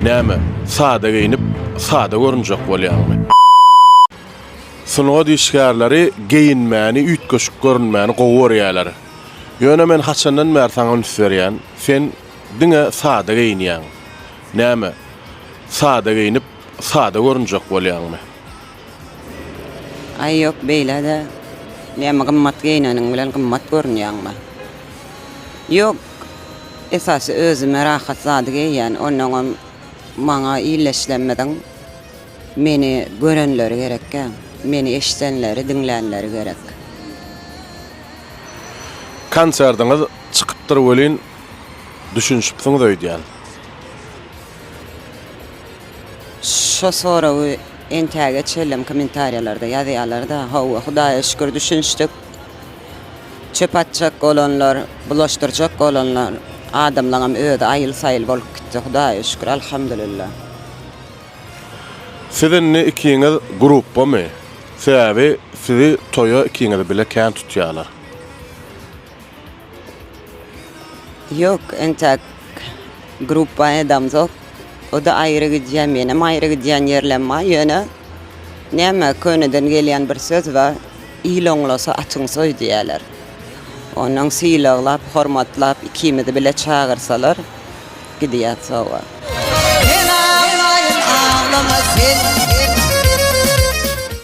Näme, sada geýnip, sada görünjek bolýaňmy? Sungat işgärleri geýinmäni, üýtgeşik görünmäni gowy görýärler. Ýöne men haçandan bäri saňa üns berýän, sen diňe sada geýinýäň. Näme, sada geýnip, sada görünjek bolýaňmy? Aý ýok beýlede näme gymmat geýneniň bilen gymmat görünýäňmi. Ýok esasy özüme rahat zady geýýän onnoňam maňa illeşlemediň meni görenleri gerekkä meni eşdenleri diňlänleri gerek. Konserdiňiz çykypdyr welin düşünişipsiňiz öýdýän. Şo soragy entäge çellem kommentariýalarda ýazýalar-da, hawa, Hudaýa şükür düşünişdik. Çöp atjak bolanlar, bulaşdyrjak bolanlar, adamlaňam özi aýyl-saýyl bolup gitdi, Hudaýa şükür, alhamdulillah. Siz indi ikiňiz gruppamy? Sebäbi sizi toýa ikiňizi bile kän tutýalar. Ýok, entäk grupba edamzok. O-da aýry gidýär, menem aýry gidýän ýerlem bar. Ýöne, näme, köneden gelýän bir söz bar, Il oňlasa, atyň soý diýýärler. Onnoň sylaglap, hormatlap, ikimizi bile çagyrsalar, gidýäs sowa.